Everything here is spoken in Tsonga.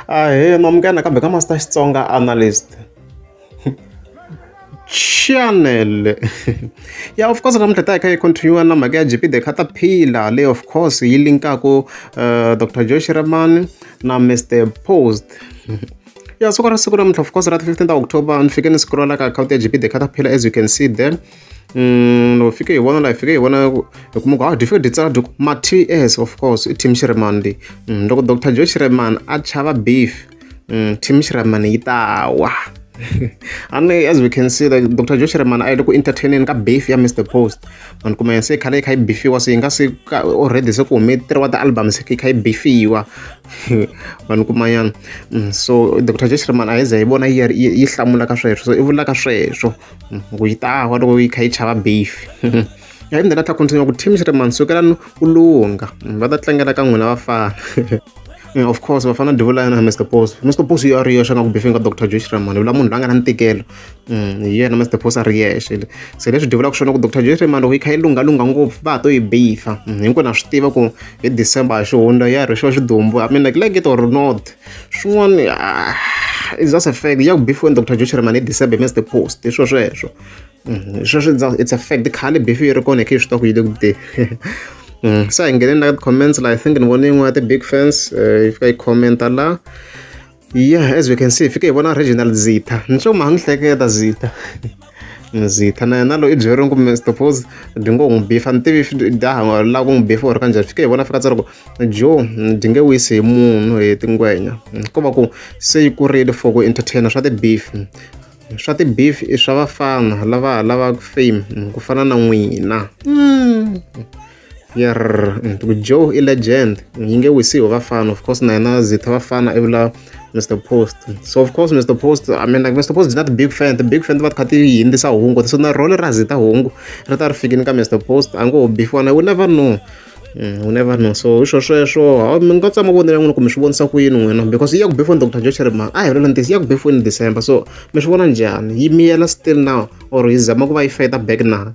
Ahee ma munghana kambe ka ma star Xitsonga analyst chanel ya of course namuntlha hi ta hi kha hi continue na mhaka ya G_P the caterpillar leyi of course yi linkaku Doctor Joe Shirimani na Mister Post ya siku ra siku namuntlha of course ra ti fifteen ta October ni fike ni scroll-a ka akhawunti ya G_P the caterpillar as you can see there. Mm, fike hi vona la hi fike hi vona hi kuma ku a dyi fike dyi tsala dyi ku ma ts of course i team shiremani leyi mm, loko dr joe shiremani a chava beef mm, team shiremani yi ta wa ani as we can see like dr joe shiremani a yi le ku entertaineni ka beef ya mr post vanhu kuma se khale yi kha yi bifiwa se yi nga se already se ku hume tiriwa ti-album se yi kha yi bifiwa vanhu kumanyana so dr joe shiremani a yi ze yi vona yi hlamula ka sweswo i vulaka sweswo loko yi ta wa loko yi kha yi chava beef ya yimela ta continue ku team xi ri mani sukelani u lunga va ta tlangela ka n'wina vafana Yeah, of course vafana divula yena mr pos mr pos yo a ri yexe nga ku befinga dr josh ramani vula munhu la nga na ntikelo Mm, hi yena mr pos a ri yexe se leswi divulaka swona ku dr josh ramani loko yi kha yi lunghalungha ngopfu va ha to yi beefa Mm, hinkwenu ha swi tiva ku hi december hi xihundla ya ri xo xidumbu i mean like like it or not swin'wana ah, is just a fact ya ku beef when dr joshua ramani december mins the post hi swo sweswo mm-hmm. sweswo it's a fact khale beef yi ri kona khe swi ta ku yi le ku te mm. se hi ngheneni la comments la i think ni vone yin'wana ya ti-big fans eh, yi fika yi commenta la yeah as we can see fike hi vona regional zita ni swo maha ni hleketa zita ndzi ta na na loyi i byeriwini kumbe stopose dyi ngo n'wi bifa ni tivi daha lava ku n'wi bifa or kanjhani fike hi vona fika tsari ku jo dyi nge wisi hi munhu hi tingwenya ko va ku se yi kurile for ku entertainer swa ti-beef swa ti-beef i swa vafana lava lava fame ku fana na n'wina mm. yer joe i legend yi nge wisi hi vafana of course na yena zitha vafana i vula mr post so of course mr post i mean like mr post is not big fan the big fan ti va ti kha ti hindzisa hungu so na role ra zita hungu ri ta ri fikini ka mr post a ngo ho bifiwa na we never know Mm, u never know so hi swo sweswo mi nga tsama vonela n'wina kumbe swi vonisa ku yini n'wina because yi ya ku before dr joe cherima a hi vula ntiso yi ya ku before in december so mi swi vona njhani yi miyela still now or yi zama ku va yi feta back na